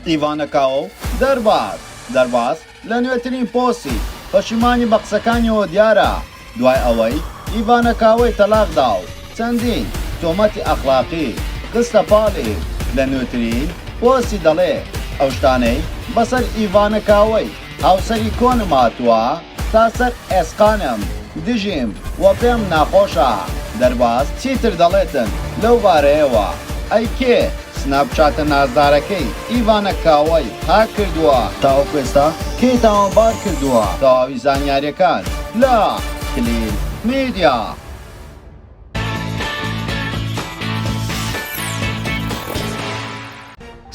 ئیڤانە کاۆ دەرباز دەرباز لە نوێترین پۆستی پەشیمانی بە قسەکانیەوە دیارە دوای ئەوەی ئیڤانە کاۆی تەلاق دا و چەندین تۆمەتی ئەخلاقی خستە پاڵی لە نوێترین پۆستی دەڵێ ئەو شتانەی بەسەر ئیڤانە کاۆی هاوسەری کۆنم هاتووە تا سەر ئێسقانم دژیم و پێم ناخۆشە دەرباز چیتر دەڵێتن لەو بارەیەوە ئەی کێ سناپ چاتە نازدارەکەی ئیڤانە کاوەی هاک کردووە تاوەکو ئێستا کێی تاوانبار کردووە تەواوی زانیاریەکان لە کلیل میدیا.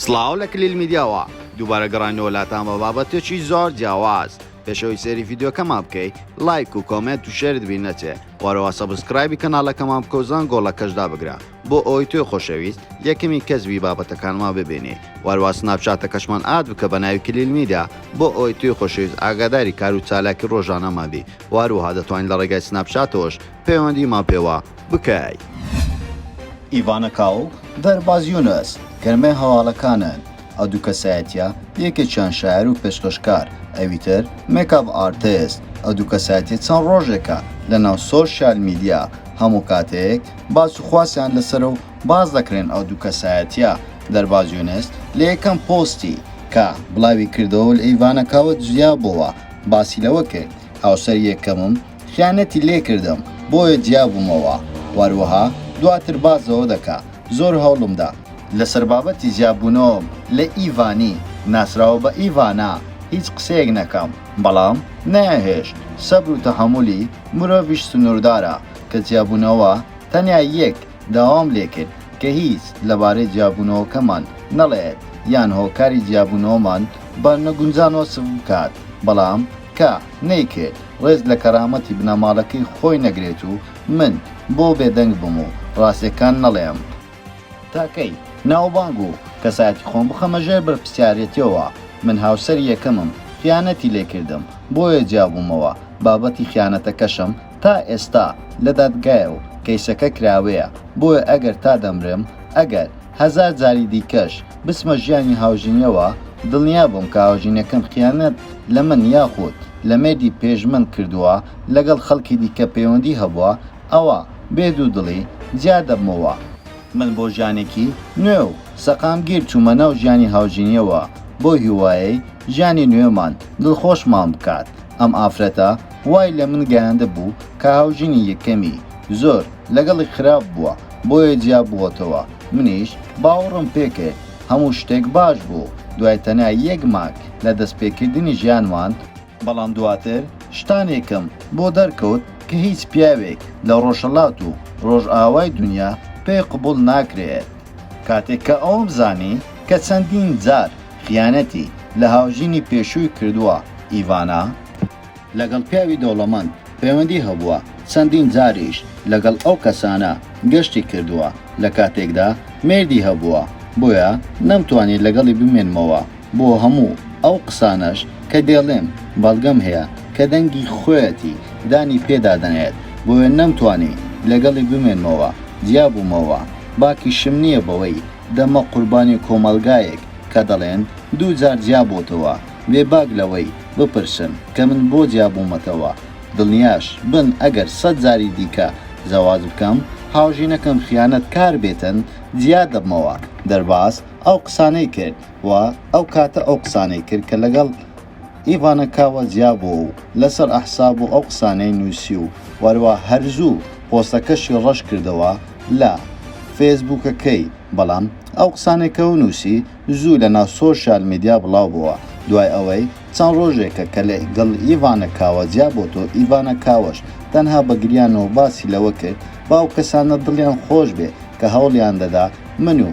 سڵاو لە کلیل میدیاوە دووبارە گەڕانەوە لاتان بە بابەتێکی زۆر جیاواز پێشەوەی سەری یددیوکەمان بکەیت لایک و کۆمنت و شێرت بی نەچێ وارەوە سەبسکرایبی کەناڵەکەمان بکەوزان گۆڵەکەشدا بگرە بۆ ئەوی توێ خۆشەویست یەکەمی کەسبی بابەتەکانما ببینی واروا سناپچاتەکەشمان ئاد بکە بە ناوی کلیل میدا بۆ ئەوی توێ خۆشەویست ئاگاداری کار و چالاکی ڕۆژانەمابی واروها دەتوانین لە ڕێگای سناپچاتەوەش پەیوەندیمان پێوە بکەی. ئیڤانا کاو و دەرباز یونس گەرمەی هەواڵەکانن، ئەو دوو کەسایەتییە یەکێکیان شاعیر و پێشکەشکار ئەوی تر مێکاپ ئارتست، ئەو دوو کەسایەتییە چەند ڕۆژێکە لەناو سۆشیال میدیا هەموو کاتێک باس و خواسیان لەسەرە و باس دەکرێن ئەو دوو کەسایەتییە دەرباز یونس لە یەکەم پۆستی کە بڵاوی کردەوە لە ئیڤانا کاوە جیابۆوە باسی لەوە کرد هاوسەری یەکەمم خیانەتی لێ کردم بۆیە جیا بومەوە واروەها دواتر باس ەوە دەکا زۆر هەوڵم دا. لەسەر بابەتی جیا بونەوەم لە ئیڤانی ناسراوە بە ئیڤانا هیچ قسەیەک نەکەم بەڵام نەیانهێشت سەبرو تەحەمولی مرۆڤیش سنوردارە کە جیا بونەوە تەنیا یەک داوام لێ کرد کە هیچ لەبارەی جیا بونەوەکەمان نەڵێت یان هۆکاری جیا بونەوەمان بە نەگونجان وەسف بکات بەڵام کە نەیکرد ڕێز لە کەرامەتی بنەماڵەکەی خۆی نەگرێت و من بۆ بێدەنگ بم و ڕاستیەکان نەڵێم؟ تا کەی ناوبانگ و کەسایەتی خۆم بخەمە ژێر بەرپرسیارێتیەوە؟ من هاوسەری یەکەمم خیانەتی لێکردم بۆیە جیابوومەوە، بابەتی خیانەتەکەشم تا ئێستا لە دادگایە و کەیسەکە کراوەیە، بۆیە ئەگەر تا دەمرم ئەگەر. هەزار جاری دیکەش بچمە ژیانی هاوژینیەوە دڵنیا بووم کە هاوژینەکەم خیانەت لە من یاخود لە مێردی پێش من کردووە لەگەڵ خەڵکی دیکە پەیوەندی هەبووە ئەوا بێ دوو دڵی جیا دەبمەوە، من بۆ ژیانێکی نوێ و سەقامگیر چوومە ناو ژیانی هاوژینیەوە بەو هیوایەی ژیانی نوێمان دڵخۆشمان بکات ئەم ئافرەتە وای لە من گەیاندبوو کە هاوژینی یەکەمی زۆر لەگەڵی خراپ بووە بۆیە جیا بووەتەوە منیش باوەڕم پێ کرد هەموو شتێک باش بوو دوای تەنیا یەک مانگ لە دەست پێ کردنی ژیانمان، بەڵام دواتر شتانێکم بۆ دەرکەوت کە هیچ پیاوێک لە ڕۆژهەڵات و ڕۆژئاوای دونیا پێی قبوڵ ناکرێت. کاتێک کە ئەوەم زانی کە چەندین جار خیانەتی لە هاوژینی پێشووی کردووە ئیڤانا، لەگەڵ پیاوی دەوڵەمەند پەیوەندی هەبووە، چەندین جاریش لەگەڵ ئەو کەسانە گەشتی کردووە، لە کاتێکدا مێردی هەبووە، بۆیە نەمتوانی لەگەڵی بمێنمەوە، بۆ هەموو ئەو قسانەش کە دێڵێم بەڵگەم هەیە کە دەنگی خۆیەتی دانی پێ دادەنێت، بۆیە نەمتوانی لەگەڵی بمێنمەوە، جیابوومەوە، باکیشم نییە بەوەی دەمە قوربانی کۆمەڵگایەک کە دەڵێن دوو جار جیابۆتەوە، بێ باک لەوەی بپرسن کە من بۆ جیابوومەتەوە، دڵنیاش بن ئەگەر سەد جاری دیکە زەواج بکەم، هاوژینەکەم خیانەت کار بێتن جیا دەبمەوە، دەرباز ئەو قسانەی کرد و ئەو کاتە ئەو قسانەی کرد کە لەگەڵ ئیڤانا کاوە جیا بووە و لەسەر ئەحساب و ئەو قسانەی نووسی و وەروا هەر زوو پۆستەکەشی ڕەش کردەوە لە فێسبووکەکەی بەڵام ئەو قسانەی کەو نووسی زوو لەناو سۆشیال میدیا بڵاو بووە، دوای ئەوەی چەند ڕۆژێکە کە لە گەڵ ئیڤانا کاوە جیا بۆتەوە، ئیڤانا کاوەش تەنها بە گریانەوە باسی لەوە کرد با ئەو کەسانە دڵیان خۆش بێ کە هەوڵیان دەدا من و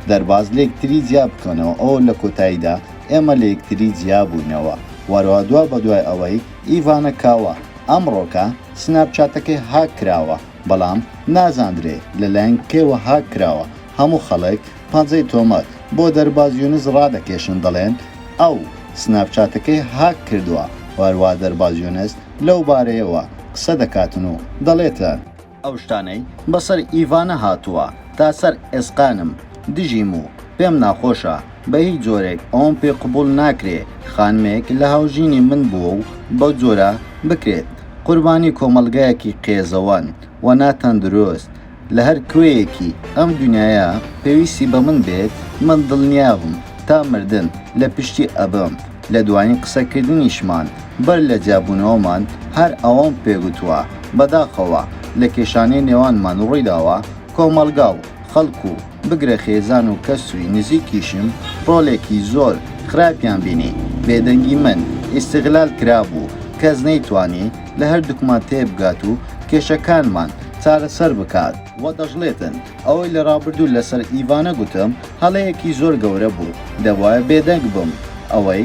دەرباز لێکتری جیا بکەنەوە ئەوە لە کۆتاییدا ئێمە لە یەکتری جیا بووینەوە وەرەوە دوا بەدوای ئەوەی ئیڤانا کاوە ئەمڕۆکە سناپ چاتەکەی هاک کراوە بەڵام نازاندرێ لەلایەن کێوە هاک کراوە هەموو خەڵک پەنجەی تۆمەت بۆ دەرباز یونس ڕادەکێشن دەڵێن ئەو سناپچاتەکەی هاک کردووە و هەروا دەرباز یونس لەو بارەیەوە قسە دەکاتن و دەڵێتن، ئەو شتانەی بەسەر ئیڤانە هاتووە تا سەر ئێسقانم دژیم و پێم ناخۆشە، بە هیچ جۆرێک ئەوەم پێ قبوڵ ناکرێ خانمێک لە هاوژینی من بووە و بەو جۆرە بکرێت قوربانی کۆمەڵگایەکی قێزەوەن و ناتەندروست، لە هەر کوێیەکی ئەم دونیایە پێویستی بە من بێت، من دڵنیابم تا مردن لە پشتی ئەبم، لە دوایین قسەکردنیشمان بەر لە جیابوونەوەمان هەر ئەوەم پێ گوتووە، بەداخەوە لە کێشانەی نێوانمان ڕوویداوە کۆمەڵگا و خەڵک و. بگرە خێزان و کەسوی نزیکیشم ڕۆلێکی زۆر خراپیان بینی بێدەنگی من ئیستغلال کرابوو کەس نەیتوانی لە هەردوکمان تێبگات و کێشەکانمان چارەسەر بکات، وە دەشڵێتن ئەوەی لە ڕابردوو لەسەر ئیڤانە گوتم هەڵەیەکی زۆر گەورە بوو دەبوایە بێدەنگ بم ئەوەی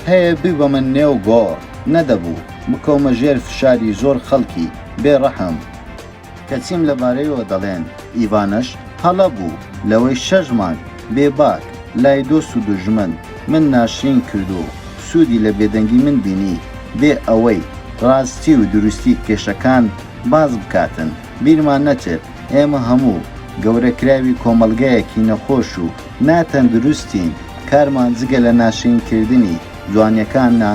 هەیە بیبەمە نێو گۆڕ نەدەبوو بکەومە ژێر فشاری زۆر خەڵکی بێ ڕەحم. کە چیم لە بارەیەوە دەڵێن ئیڤانەش هەڵە بوو لەوەی شەش مانگ بێ باک لای دۆست و دوژمن من ناشرین کرد و سوودی لە بێدەنگی من بینی بێ ئەوەی ڕاستی و دروستی کێشەکان باس بکاتن بیرمان نەچێت ئێمە هەموو گەورە کراوی کۆمەڵگایەکی نەخۆش و نا تەندروستین کارمان جگە لە ناشرین کردنی جوانیەکان نا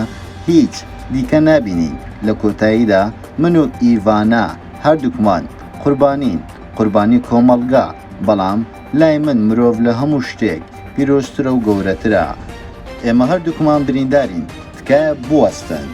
هیچ دیکە نابینین لە کۆتاییدا من و ئیڤانا هەردووکمان قوربانین، قوربانی کۆمەڵگا، بەڵام لای من مرۆڤ لە هەموو شتێک پیرۆزترە و گەورەترە. ئێمە هەردووکمان بریندارین، تکایە بوەستن.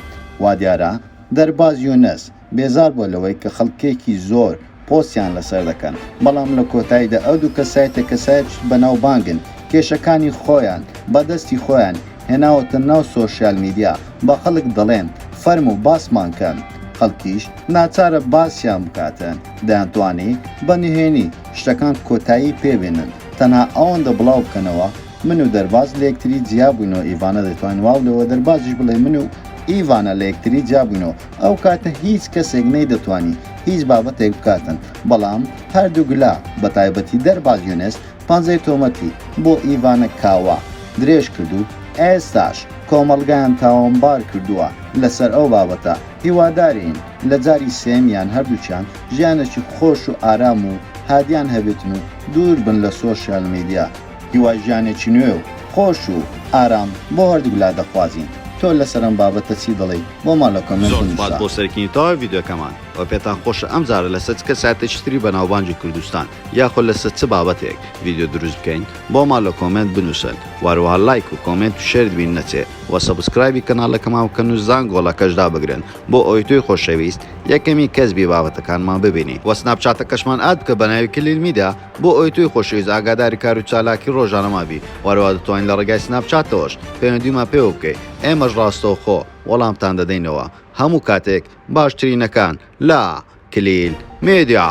وادیارە دەرباز یونس بێزار بووە لەوەی کە خەڵکێکی زۆر پۆستیان لەسەر دەکەن بەڵام لە کۆتایدا ئەو دوو کەسایتە کەسایت بەناوبانگن کێشەکانی خۆیان بەدەستی خۆیان هێناوەتە ناو سۆشیال میدیا بە خەڵک دەڵێن فەرموو باسمان کەن خەڵکیش ناچارە باسیان بکاتن دەیانتوانی بە نهێنی شتەکان کۆتایی پێ بێنن تەنها ئەوەندە بڵاو بکەنەوە من و دەرباز لە یەکتری جیا بووینەوە ئیڤانە دەیتوانی واو لەوە دەربازیش بڵێ من و ئیڤانە لە یەکتری جیا بووینەوە ئەو کاتە هیچ کەسێک نەیدەتوانی هیچ بابەتێک بکاتن، بەڵام هەردووک لا، بە تایبەتی دەرباز یونس، پەنجەی تۆمەتی بۆ ئیڤانە کاوا درێژ کرد و ئێستاش کۆمەڵگایان تاوانبار کردووە لەسەر ئەو بابەتە، هیوادارین لە جاری سێیەمیان هەردووکیان ژیانێکی خۆش و ئارام و هادیان هەبێتن و دوور بن لە سۆشیال میدیا. هیوای ژیانێکی نوێ و خۆش و ئارام بۆ هەردووک لا دەخوازین. تۆ لەسەر ئەم بابەتە چی دەڵێی بۆمان لە کۆمێنت بنوسە. زۆر سوپاس بۆ سەرکینی تەواوی ڤیدیۆکەمان وە پێتان خۆشە ئەم جارە لەسەر چ کەسایەتێکی تری بەناوبانگی کوردستان یاخۆ لەسەر چ بابەتێک ڤیدیۆ دروست بکەین بۆمان لە کۆمێنت بنوسن وە هەروەها لایک و کۆمێنت و شێرت بیر نەچێ وە سەبسکرایبی کەناڵەکەمان بکەن و زانگۆڵەکەش دابگرن بۆ ئەوەی تۆی خۆشەویست یەکەمین کەس بی بابەتەکانمان ببینی وە سناپچاتەکەشمان ئاد بکە بەناوی کلیل میدیا بۆ ئەوەی تۆی خۆشەویست ئاگاداری کار و چالاکی ڕۆژانەمان بی و هەروەها دەتوانی لە ڕێگای سناپ چاتەوەش پەیوەندیمان پێوە بکەی ئێمەش ڕاستەوخۆ وەڵامتان دەدەینەوە هەموو کاتێک باشترینەکان لە کلیل میدیا.